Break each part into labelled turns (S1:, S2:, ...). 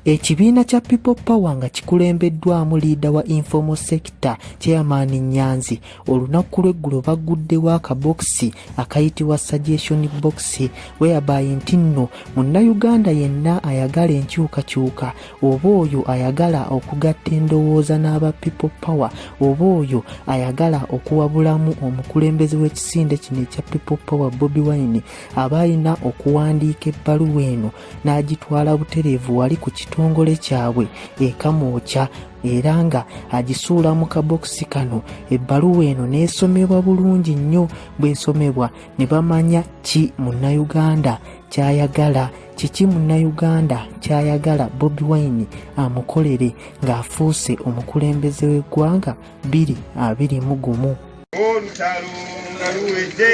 S1: Ekibiina kya People Power nga kikulembeddwamu liida wa informal sector chairman Nyanzi olunaku lw'eggulo baguddewo akabokisi akayitibwa suggestion box whereby nti nno munnayuganda yenna ayagala enkyukakyuka oba oyo ayagala okugatta endowooza n'aba people power oba oyo ayagala okuwabulamu omukulembeze w'ekisinde kino ekya people power bobi wine aba alina okuwandiika ebbaluwa eno n'agitwala butereevu wali ku kitongole kyabwe ekamwokya era nga agisuula mu kabokisi kano ebbaluwa eno n'esomebwa bulungi nnyo bw'esomebwa ne bamanya ki munnayuganda ky'ayagala kiki munnayuganda kyayagala bobi wine amukolere ng'afuuse omukulembeze w'eggwanga 221
S2: olutalo nga luwedde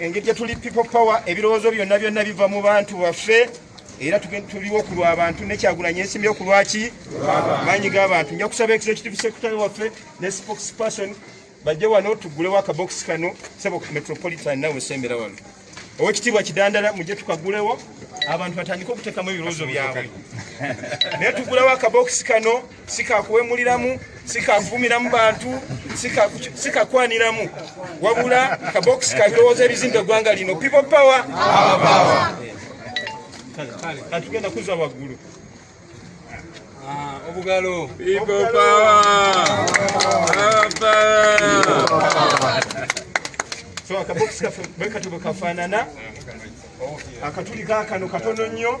S2: engeri gye tuli people power ebirowoozo byonna byonna biva mu bantu baffe era tuliwo ku lwabantu nekyagulanyi ensimbi oku lwaki maanyi g'abantu nja kusaba executive secretary waffe ne spokes person bajje wano tugulewo akabokisi kano sebo metropolitan nawe sembera wano owekitiibwa kidandala mujje tukagulewo abantu batandike okutekamu ebirowoozo byabwe naye tugulewo akabokisi kano sikakuwemuliramu sikakuvumiramu bantu sikakwaniramu wabula kabokisi kabirowooza ebizimba eggwanga lino people power atugenda kuza waggulu ah, obugalo so akabokisi kaffe bwekatubwe kafaanana akatuli kakano katono nnyo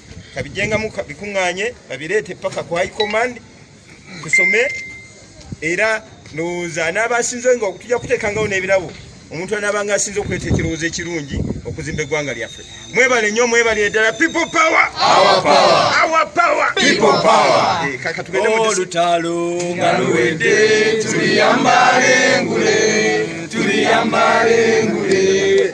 S2: kabijengamu bikuŋŋaanye babireete paka ku high command kusome era ndowooza anaaba asinze nga tujja kuteekangawo n'ebirabo omuntu anaabanga asinze okuleeta ekirowoozo ekirungi okuzimba eggwanga lyaffe mwebale nnyo mwebalire ddala people power olutalo nga luwedde tuliyambala engule tuliyambala engule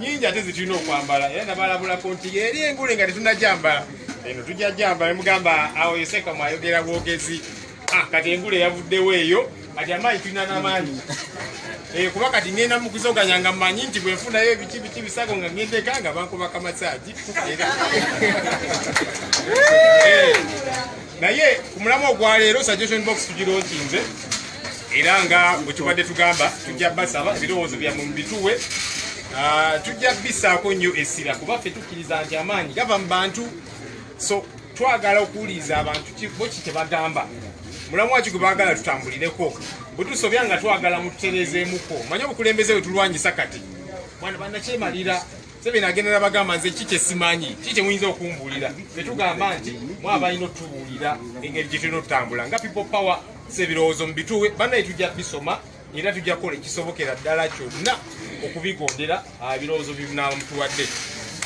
S2: nyingi ate zitulina okwambala era nabalabulako nti eri engule nga tetunajambala eno tujja jambala mugamba awo yoseka mwayogera bwogezi ah,
S3: kati engule yavuddewo eyo kati amaanyi tulina namaanyi eh, kuba kati ngenda mukuzoganya nga manyi nti bwenfunayo ebiki biki bisago nga ngendeka nga bankuba kamasaji naye ku mulamu ogwa leero suggestion box tugironkinze era nga bwe tubadde tugamba tujja basaba ebirowoozo byammwe mu bituwe ah, tujja bisaako nnyo essira kuba ffe tukkiriza nti amaanyi gava mu bantu so twagala okuwuliriza abantu bo ki kye bagamba mulamu waki gwe baagala tutambulireko bwe tusobya nga twagala mututereezeemuko manye obukulembeze bwe tulwanyisa kati bwana banakyemalira Museveni agenda nabagamba nze ki kyesimanyi ki kyemuyinza okumbuulira tetugamba nti mwabalina otubuulira engeri gyetulina otutambula nga people power sebirowoozo mubituwe banaye tujja bisoma era tujja kukola ekisobokera ddala kyonna okubigondera ah, ebirowoozo bibnamutuwadde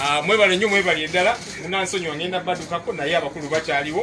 S3: ah, mwebale nnyo mwebali eddala munansonyiwa ngenda badukako naye abakulu bakyaliwo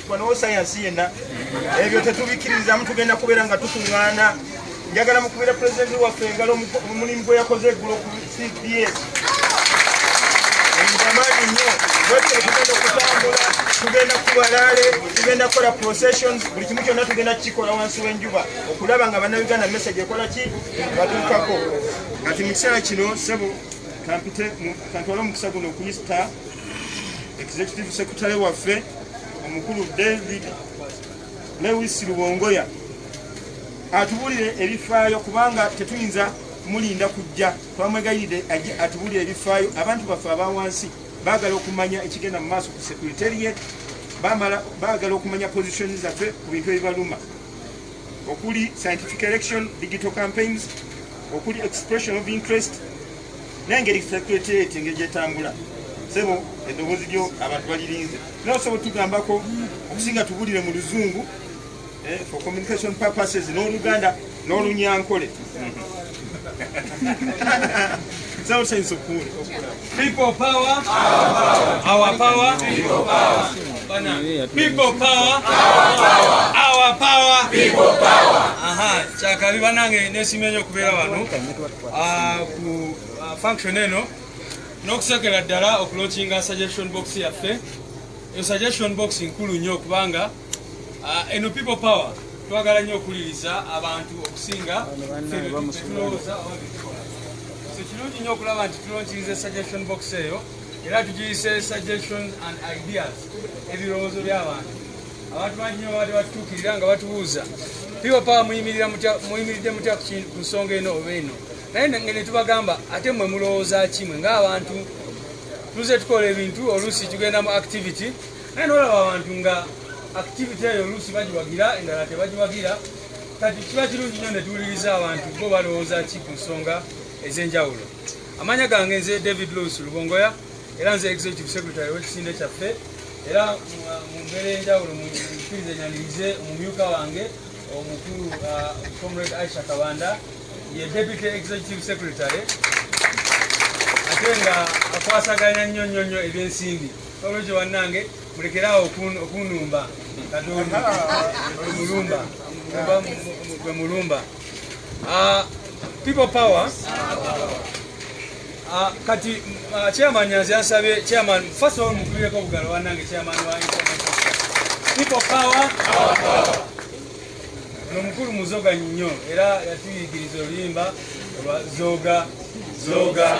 S2: wanowo sayansi yenna ebyo tetubikirizamu tugenda kubeera nga tukuŋŋaana njagala mukubira pulezidenti waffe engalo omulimu gwe yakoze eggulo ku cps amaanyi nnyo wetule tugenda okutambula tugenda kubalaale tugenda kukola processions buli kimu kyonna tugenda kukikola wansi w'enjuba okulaba nga bannayuganda message ekola ki batuukako kati mu kiseera kino sebo kampite kantwala omukisa guno okuyita executive secretary waffe omukulu david lewis lubongoya atubulire ebifaayo kubanga tetuyinza mulinda kujja twamwegayiride aje atubulire ebifaayo abantu baffe abawansi bagala okumanya ekigenda mu maaso ku securitariat bamala bagala okumanya position zaffe ku bintu ebibaluma okuli scientific election digital campaigns okuli expression of interest nengeri secretariat engeri gyetambula sebo eddoboozi lyo abantu balirinze naye osobola otugambako okusinga tubulire mu luzungu eh, for communication purposes n'oluganda n'olunyankole People power, our power, people
S4: power, people power, our power, people power. Aha, chakari banange nesimenyo kubera wanu. ah, ku ah, function eno n'okusekera ddala okulokinga suggestion box yaffe eyo suggestion box nkulu nnyo okubanga ah, eno people power twagala nnyo okuwuliriza abantu okusinga tulowooza so kirungi nnyo okulaba nti tulonkinze suggestion box eyo era tugiyise suggestion and ideas ebirowoozo by'abantu abantu bangi nyo babadde batutuukirira nga batubuuza piwa pawa muyimiridde mutya ku nsonga eno oba eno naye nge netubagamba ate mwe mulowooza kimwe ngaabantu tuze tukola ebintu oluusi tugenda mu activity naye nolaba abantu nga activity eyo oluusi bagiwagira endala tebagiwagira kati kiba kirungi nyo netuwuliriza abantu bo balowooza ki ku nsonga ez'enjawulo amanya gange nze david louis lubongoya era nze executive secretary wekisinde kyaffe era mu mbeera enjawulo mukirize nyanirize omumyuka wange omukulu uh, comrade aisha kabanda ye deputy executive secretary ate nga akwasaganya nnyo nnyo nnyo ebyensimbi olwekyo bannange mulekeraawo okunumba katonda mulumba mulumba Uh, people power. Uh, kati uh, chairman nyanzi yansabye chairman first of all mukubireko obugalo wanange chairman wa people power ono mukulu muzoga nnyo era yatuyigiriza oluyimba olwa zoga zoga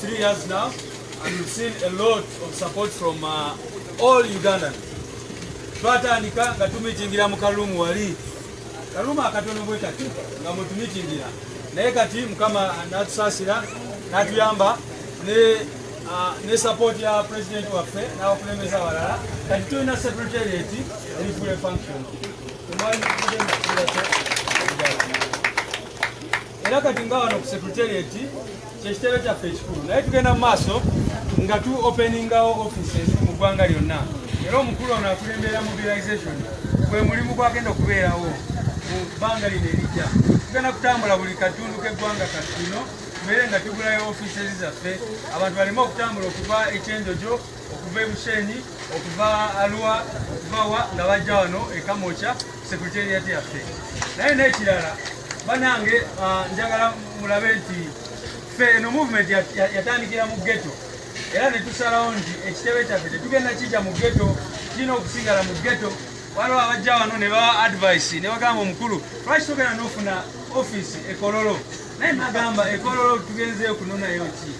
S4: Three years now and we've seen a lot of support from uh, all Ugandan. Twatandika nga tumitingira mu kalumu wali kalumu akatono bwe kati nga mutumitingira naye kati mukama natusasira natuyamba ne uh, ne support ya president waffe n'abakulembeze abalala kati tulina secretariat eri full function era kati nga wano ku secretariat kyekitebe kyaffe ekikulu naye tugenda mu maaso nga tu openingawo offices mu ggwanga lyonna era omukulu ono akulembera mobilization gwe mulimu gwagenda okubeerawo mu bbanga lino erijja tugenda kutambula buli katundu k'eggwanga kati kino tubeere nga tugulayo offices zaffe abantu baleme okutambula okuva ekyenjojo okuva e Bushenyi okuva Arua okuva wa nga bajja wano e Kamokya secretariat yaffe naye n'ekirala banange ah, njagala mulabe nti ffe eno movement yatandikira mu ghetto era ne tusalawo nti ekitebe kyaffe tetugenda kijja mu ghetto kirina okusigala mu ghetto waliwo abajja wano ne bawa advice ne bagamba omukulu lwaki togenda n'ofuna office ekololo naye nagamba ekololo tugenzeeyo kunonayo ki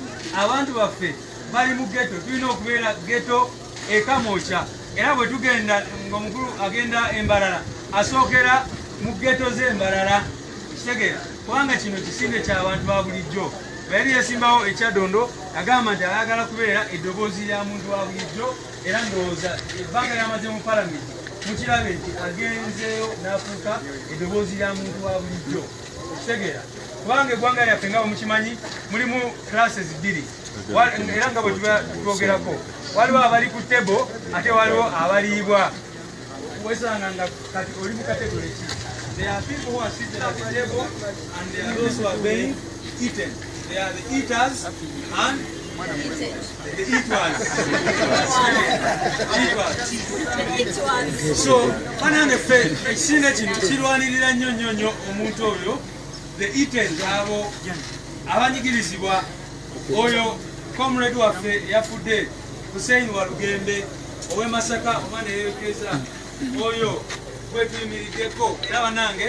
S4: abantu baffe bali mu geto tulina okubeera geto ekamokya era bwe tugenda ngaomukulu agenda embalala asookera mu geto z'embalala ekitegeera kubanga kino kisinde kyabantu ba bulijjo bayali yasimbawo ekyadondo agamba nti ayagala kubeera eddoboozi lya muntu wa bulijjo era ndowooza ebbanga lyamaze mu palamenti mukirabe nti agenzeeyo n'afuuka eddoboozi lya muntu wa bulijjo okutegeera kubanga eggwanga lyaffe nga bwemukimanyi mulimu classes bbiri era nga bwe twogerako waliwo abali ku tebo ate waliwo abaliibwa wesanga nga kati oli mu kategole ki there are people who are seated at the table and there are those who are being eaten there are the eaters and It was. It was. It was. So, banange ffe ekisinde kino kirwanirira nnyo nnyo nnyo omuntu oyo the itens abo abanyigirizibwa oyo comrade waffe yafudde Hussein Walugembe ow'e Masaka oba neyerekeza oyo gwetuyimiriddeko era banange